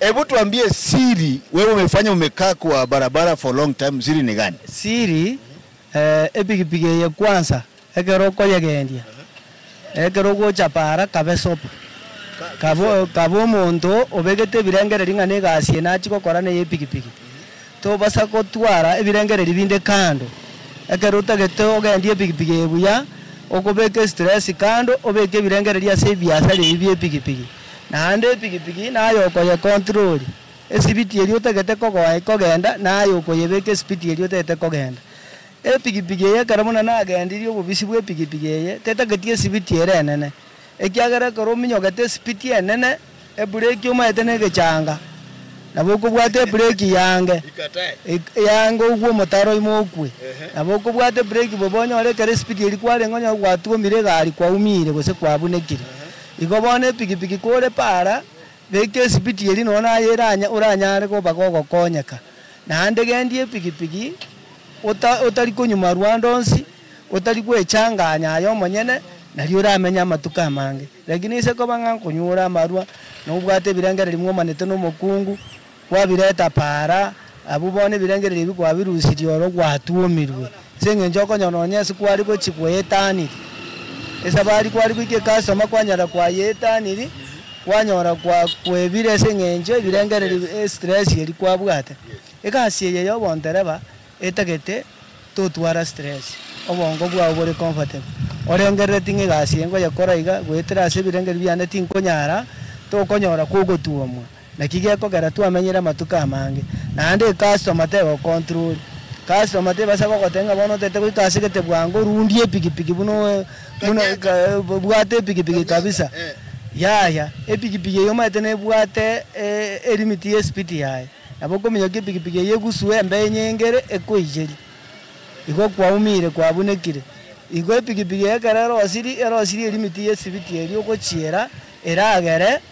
Hebu tuambie siri wewe umefanya umekaa kwa barabara for long time siri ni gani? Siri eeh epigipigi eye kwansa ekero okoyegendia ekero ogochapa ara kabe sob kabe kabe omonto obegete ebirengereri ng'a negasi eye nachie gokora neye epigipigi tobasa gotwara ebirengereri binde kando ekero otagete ogendie epigipigi eye buya okobeka estress kando obeke ebirengereri ase ebiasara ebi bie epigipigi. Naende epikipiki naye okoyekontirori, esibiti eria otagete kogoa ekogenda naye okoyebeka esibiti eria otagete kogenda. Epikipiki eye ekero buna nagendirie obobisi bw'epikipiki eye tetageti esibiti ere enene, ekiagera ekero ominyogete esibiti enene, ebureki omaete n'egechanga, nabo okobwata ebureki yaange yaange ogwe omotaro ime okwe. Nabo okobwata ebureki bobe onyore ekero esibiti eria kwarenge onyore gwatuomire egari kwaumiire gose kwabunekire. Igo bono epikipiki kore para, beka esibiti eria nonya naye eranya oranyare koba gogokonyeka. Naende gendia epikipiki ota otari konyuma rwande onsi, otari gwechanganya aye omonyene, nari oramenye amatuko amange. Lakini ase koba ng'a nkonyure amarwa, nobwate ebirengererio mwomanete nomokungu, Gwabireta paara, abwo bono ebirengererio ebio kwabirusirie oro gwatuomirwe, ase engencho okonyora nonya ase kwari gochia kweyetaniri. Esabari kwari goika ekasitoma kwanyara kwayetaniri, kwanyora kwa kwebire ase engencho ebirengererio e stress eria kwabwate. Egasi eye ya obondereba etagete totwara stress, obongo bwao bore comfortable. Orengerereti ng'a egasi eye nkoyekora iga, goetera ase ebirengererio biane tinkonyara, tokonyora kogotuomwa. Naki gekogera twamenyire amatuko amange, naende ecusstomer tegocontrolia. Customer tebasa gogotebia ng'a bono otaete goika ase gete bwango rundia epikipiki buna buna bwate epikipiki kabisa. Yaya, epikipiki eye omanyete nebwate elimit ye speed yaye. Nabo okominyoka epikipiki eye egusue embee enyengere ekoiyerie. Igo kwaumire kwabunekire. Igo epikipiki eye ekero erosirie erosirie elimit ye speed eria ogochiera eragere.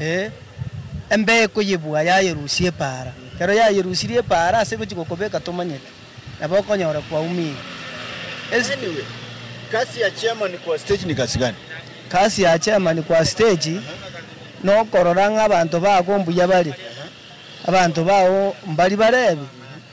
ee, embeeko y'ebua yayerusia epaara. Ekero yayerusirie epaara ase gochia gokobeka tomanyete, nabo okonyora kwaumire. Anyway, kasi ya chairman kwa stage ni kasi gani? Kasi ya chairman kwa stage nokorora ng'a abanto bago mbuya bare, abanto bao mbari barebi,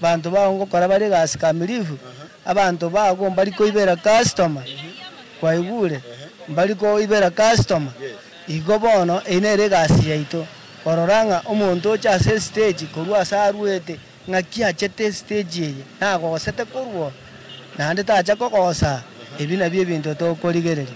abanto bao ngokora bare egasi kamilifu, Abanto bago mbari koibera kasitoma, kwaigure? Mbari koibera kasitoma. Igo bono eyio nere egasi yaito, korora ng'a omonto oche ase esiteji korwa ase arwete ng'aki achete esiteji eye nagosete korwa oo, naende tacha kogosaa. Ebi nabio ebinto tokorigereria.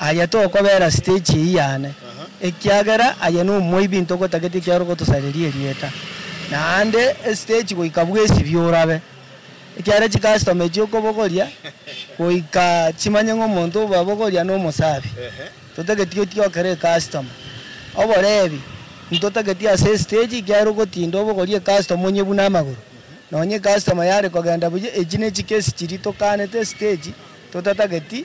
Aye tokobera stage eyio yane, ekiagera aye nomoibi ntogotagete ekiagera ogotosareria erieta. Naende estage goika bwesibie orabe, ekiagera chicustom echio okobogoria goika chimanye ng'a omonto obabogoria nomosabi. Totageti otige okere ecustomer. Oborebi ntotageti ase estage ekiagera ogotinda obogorie ecustomer onye buna amagoro. Nonye ecustomer yare kogenda buya, echi nechikesi chiria tokanete estage totatageti.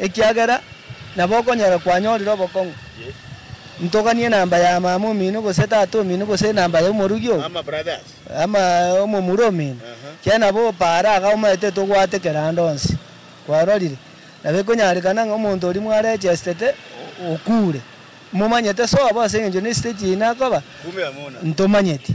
Ekiagera nabo okonyora kwanyorire obokong'u. Ntoganie enamba ya mama omino gose tata omino gose enamba ya omorugi oo, ama omomura omino, kiagera nabo opaare agao omanyete tobwate kera ande onsi. Kwarorire? Nabo ekonyarekana ng'a omonto oria mwarechestete okuure, momanyete sobo ase engencho nesite chiina akoba, ntomanyeti.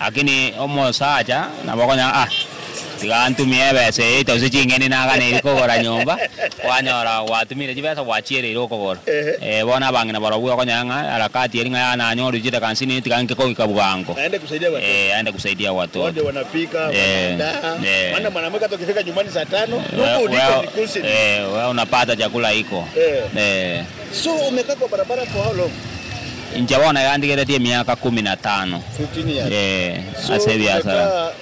Lakini omosacha nabo okonyora ah, tiga antumie ebesa eye eita gose ching'eni nagane eria kogora nyomba, kwanyora gwatumire chibesa gwachiereire okogora. Ee, bono abang'ina barobwo okonyora ng'a harakati eria ng'a yaya nanyorire chidaka hamsini eria tiga nke kogika bwango, ee, aende kusaidia watoto. Ee, ee. Wewe, ee, wewe unapata chakula iko? Ee. Inche bono egantigeretie emiaka komi na tano ase ebiasara.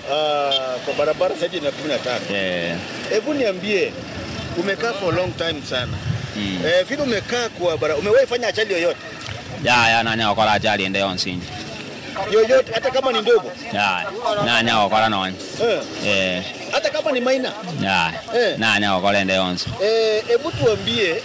Yaya, nanyare gokora achali ende yonsi inche. Yaya, nanyare gokora nonya. Yaya, nanyare gokora ende yonsi.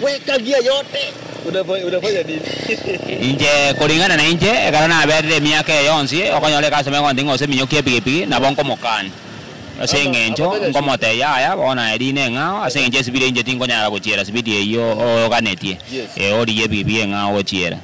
Gwekagia yote unafanya nini? Inche, koring'ana nainche, ekero naberire emiaka eye yonsi, okonyora egasi ime egontinga gose eminyoki y'epigipigi, nabo nkomokania. Ase engencho nkomotebia, Yaya, bono naye riina eng'ao, ase engencho esibidi einche tinkonyara gochiera sibidi eyio oganetie, ee, origie epigipigi eng'ao gochiera.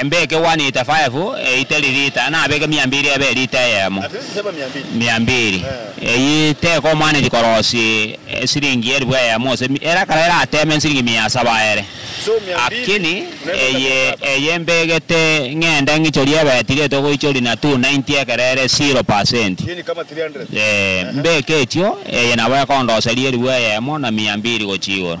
Embe ekegwani lita faefu eite ririta, na abeke miambiri ebe erita eyemo miambiri. Eyio tekomoaneria korosi esiringi elifu eyemo gose mi, ere ekero erateme nsiringi mia asaba aere. Akini eye eye mbegete ng'ende ng'ichorie ebeti gete ogoichoria na 290 ekero ere zero pasenti. Ee, mbeke echio, eye nabo ekondoseria elifu eyemo na miambiri gochia igoro.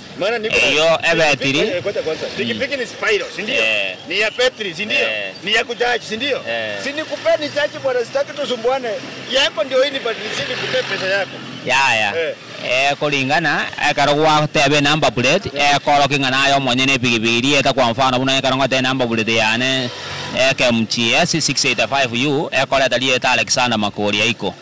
eyio ebetiri, yaya, ekoringana ekero gwateba enumber plate, ekorokia ng'a naye omonyene epigipigi eria eeta kwa mfano buna ekero ngoeta enumber plate yane KMGS 685U ekoreta rieta Alexander Makori aiko.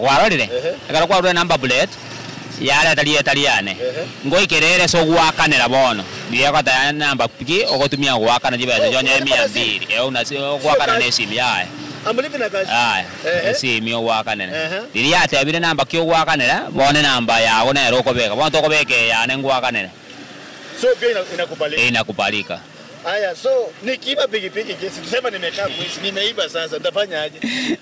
Kwarorire, ekero kwarure namba plate, yareta rieta riane. Ngoike rere ase ogoakanera bono, rigekotebia namba ki ogotumia ogoakana chibesa chionye emia mbiri eun ase ogoakana nesimi yaye. Yaya, esimi ogoakanere. Riria yatebire namba ki ogoakanera, bono enamba yago nero okobeka. Bono tokobeka eyane ngoakanere. Inakubalika.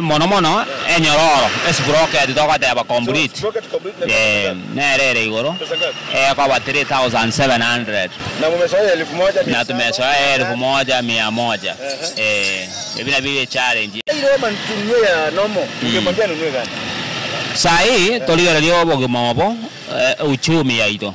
Mono mono enyororo esiproketi togoteeba complete nero ere igoro ekoba three thousand seven hundred na tumesoya ya elfu moja mia moja ebi nabio bi challenge. Saa ii torigereria obogima obo, euchumi yaito.